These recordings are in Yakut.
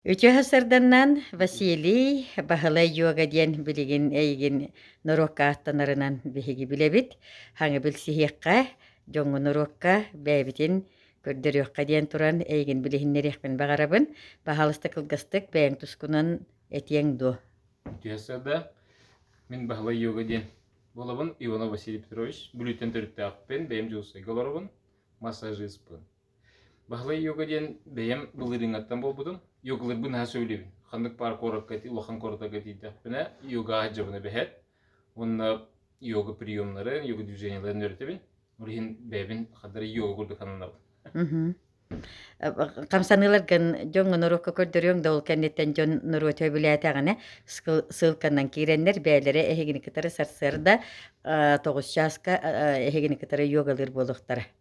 Үтүө сарданнан Василий Баһылай Йога диэн билигин эйигин норуокка ааттанарынан биһиги билэбит. Хаҥы билсиһиэххэ, дьоҥҥу норуокка бэйэбитин көрдөрүөххэ диэн туран эйигин билиһиннэриэхпин баҕарабын. Баһаалыста кылгастык бэйэҥ тускунан этиэҥ дуо? Үтүө сарда. Мин Баһылай Йога диэн буолабын Иванов Василий Петрович. Бүлүүттэн төрүттээхпин, бэйэм дьулусайга олоробун, массажиспын. Баһылай Юга диэн бэйэм былырыыҥҥаттан буолбутум. Югаларбын наһаа сөбүлэбин. Ханнык баар куоракка ити улахан куоракка тиийдэхпинэ йога дьабына бэһээт уонна йога приемнарын, йога движенияларын үөрэтэбин. Ол иһин бэйэбин хардары йога курдук сананабын. Мгм. Э, хамсаныыларгын дьоҥҥо норуокка көрдөрүөҥ да ол кэнниттэн дьон норуот сөбүлээтэҕинэ сыл ссылканан киирэннэр бэйэлэрэ эһигини кытары сарсыарда, э, тоҕус чааска, э, эһигини кытары йогалыыр буолуохтара.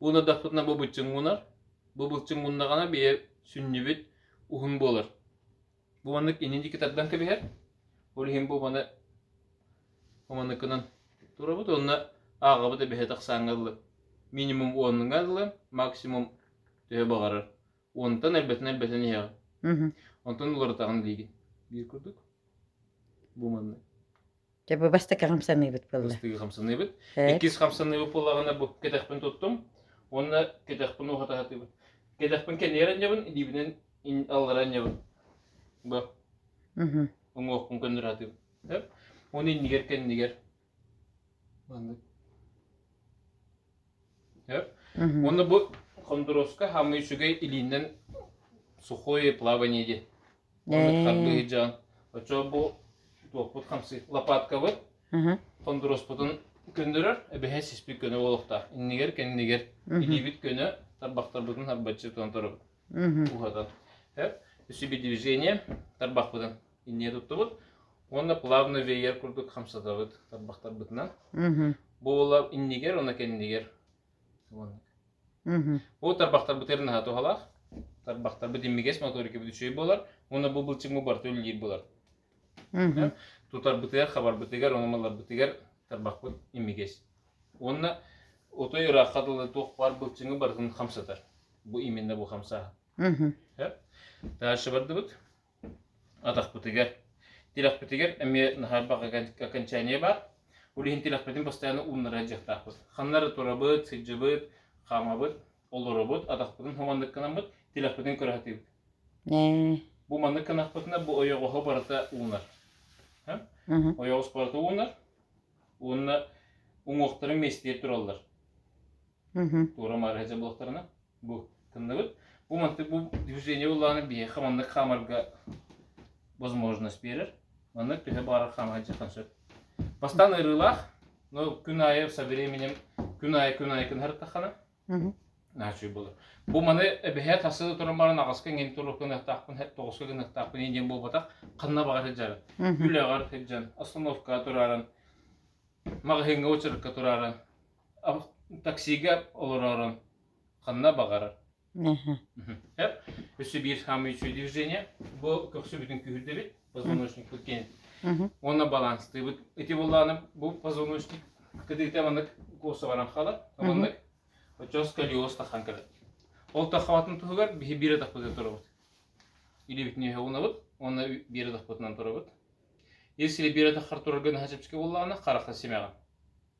Ууна дахпытына бу быччыҥ уунар. Бу былчыҥ ууннаҕына бие сүнньүбүт уһун буолар. Бу маннык инин дики тардан кэбиһэр. Ол иһин бу маны оманыкынан турабыт онно ааҕабыт эбэһэ тахсаанга ыллы минимум оннуга ыллы максимум төһө баҕарар онтан элбэтин элбэтин иһэҕи онтон уларытаҕын диигин биир курдук бу маннык Дьэ, бу бастакы хамсаныыбыт буолла. Бастакы хамсаныыбыт. Иккис хамсаныыбыт буолаҕына бу кэтэхпин туттум. Уонна кэтэхпин уһатаһатыыбын. Кэтэхпин кэнийэрэнньэбин, илиибинэн алларанньабын. Бу. Уҥуохпун көннөрөтүм. Оны иннигэр кэннигэр. Маннык. Уонна бу хондуруоска хамый сүгэй илииннэн сухое плавание диэн. Оннук харбыһыдьаан. Оччо бу туоппут хамсый лопаткабыт хондуруспутун көннөрөр эбэһэ сиспит көнө буолуохтаах. Иннигэр кэннигэр илиибит көнө тарбахтарбытын харбаччы тутан турабыт. Уһатан. Так, үсүбү движение тарбахпытын инньэ туттубут. Уонна плавно веер курдук хамсатабыт тарбахтарбытынан. Бу буола иннигэр, уонна кэннигэр Ол тарбахтарбыт эр наһаа туһалаах. Тарбахтарбыт иммигэс моторикабыт үчүгэй буолар. Уонна бу былчыҥмы барыта үлэлиир булар. Тутарбытыгар, хабарбытыгар, ономаларбытыгар тарбахпыт иммигэс. Уонна отой ыраахха дылы туох баар былчыҥы барытын хамсатар. Бу именно бу хамсааһын. Дальше бардыбыт. Атахпытыгар. Тилэхпитигэр эмиэ наһаа баҕа окончание баар. Ол иһин тилэхпитин постоянно ууннара дьахтаахпыт. Ханнары турабыт, сылдьабыт, хаамабыт, олоробут, атахпытын хоманнык кынаммыт, тилэхпитин көрө сатыыбыт. Ээ. Бу маннык кынахпытына бу ойоҕоһо барыта уунар. Мм. Ойоҕос барыта уунар. Уонна уҥуохтара миэстийэ тураллар. Мм. Туора-маары садьылахтарына. бу тынныбыт. Бу маннык бу diffusiение буллаҕына биһиэхэ маннык хаамарга возможность биэрэр. Маннык төһө баарар хаама сылдьыаххын сөп. Бастаан ыарыылаах, но күн аайы со временем күн аайы күн аайы кынарыттаххына наачыы болор. Бу маны эбэһэ тасыы туран баран агаска иҥин туру гыныахтаахпын, тоҕуска гыныахтаахпын иниэн буолбатах, ханна баҕар сылдьаран. Үлэҕэр сылдьан, остановкаға тураран, маҕаһыыҥҥа очеркка тураран, таксига олорорун ханна баҕарар. Өссө биир самое үчүгэй движение бу көхсү бүтүн күүһүрдэбит позвоночникпыт киэн уонна баланстыыбыт ити боллааным бу позвоночник кыдыыта маннык куоса баран хаалар маннык оччос калиос тахан кэлет ол таххабатын туһугар биһи биир атахпытын турабыт илибит нөһө унабыт онна биир атахпытынан турабыт если биир атаххар турарга наһачыпчыки боллаана хараха симэҕин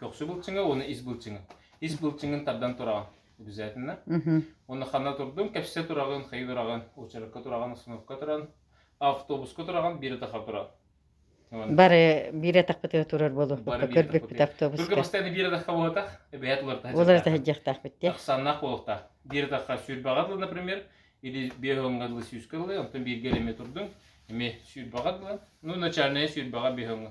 Көхсү былчыҥы уонна ис былчыҥы. Ис былчыҥын тардан тураҕын обязательно. Уһу. Уонна ханна турдуҥ? Кэпсэ тураҕын, хайыы тураҕын, очередка тураҕын, остановка туран, автобуска тураҕын, биир атахха туран. Уонна Бары биир атахпытыгар турар буолуохпут. бары биир Көрбүппүт атахпытыгар. автобуска. Кыргызстан биир атахха буолатах, эбэһээт уларытаһа Ол арата сылдьыахтаахпыт диye. Ахсааннаах буолуохтаах. Биир атахха сүүрбэҕэ дылы, например, или биэһоҥҥа дылы сүүскэ дылы, онтон бииргэ эмиэ турдуҥ, эмиэ сүүрбэҕэ дылы, ну начальная сүүрбэҕэ биэһоҥҥа.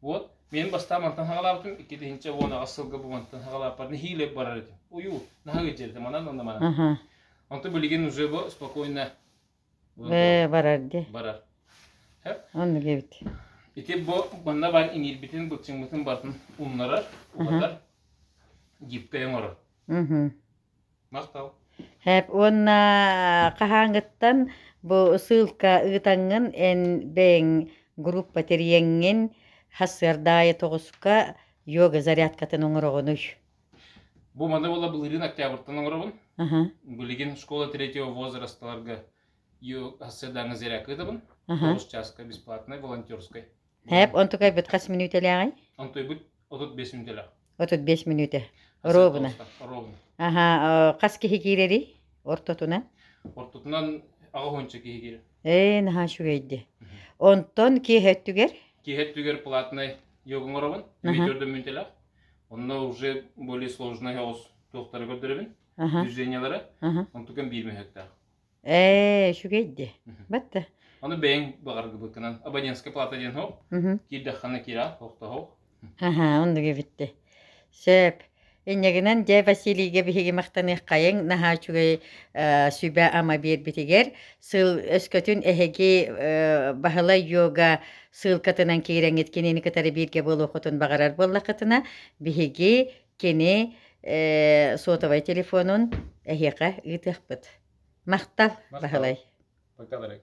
Вот, мен бастаан мантан хаҕалаабытым, иккитинчи уон аҕыс сылга бу мантан хаҕалааппар нехилэ барар этим. Уйуу, наһаа ыдьырды, манан онно манан. Аха. Онтон билигин уже бу спокойно Э, барар ди. барар. Онно кэбит. Ити бу манна бар иҥиирбитин, быччыҥмытын бартын умнарар, улатар, гибкэй оҥорор. Мгм. Һээп уонна хаһааҥҥыттан бу ссылка ыытаҥҥын эн бэйэҥ группа тэрийэҥҥин сарсыарда аайы тоҕуска йога зарядкатын оҥороҕунуй? Бу маны буола былырыын октябрьтан оҥоробун. Билигин школа третьего возрасталарга сарсыардаҥҥы зарядка ыытабын. Тоҕус чааска бесплатнай, волонтерскай. Хэп онтукайбыт хас мүнүүтэлээҕи? Онтуйбут отут бес мүнүүтэлээх. Отут бес мүнүүтэ. Оруобуна. Оруобуна. Аха, хас киһи киирэри ортотуна? Ортотунан аҕа хуонча киһи киирэ. Ээ, наһаа үчүгэйди. Онтон киэһэ өттүгэр? Киэһэ өттүгэр платнай йогун оробун, бүтөрдө мүнүтэлэх. Онно уже более сложный оҕус туохтары көрдөрөбүн, движениялары. Онтукан биир мөһөктөөх. Ээ, үчүгэй дии. Батта. Аны бэйэҥ баҕаргыбыккынан абонентская плата диэн хоһ киирдэххэне киирэ тохтоһох аха оннук эбитте сөп иннигинэн дьэ Василийга биһиги махтаныаххайыҥ наһаа үчүгэй сүбэ ама биэрбитигэр сыл өскөтүн эһиги Баһылай йога сыылкатынан киирэҥит кинини кытары бииргэ буолуоххутун баҕарар буоллаххытына биһиги Кини э, сотовай телефонун эһиэхэ ыытыахпыт. Махтал, Махтал. Баһылай. Пока, дорогой.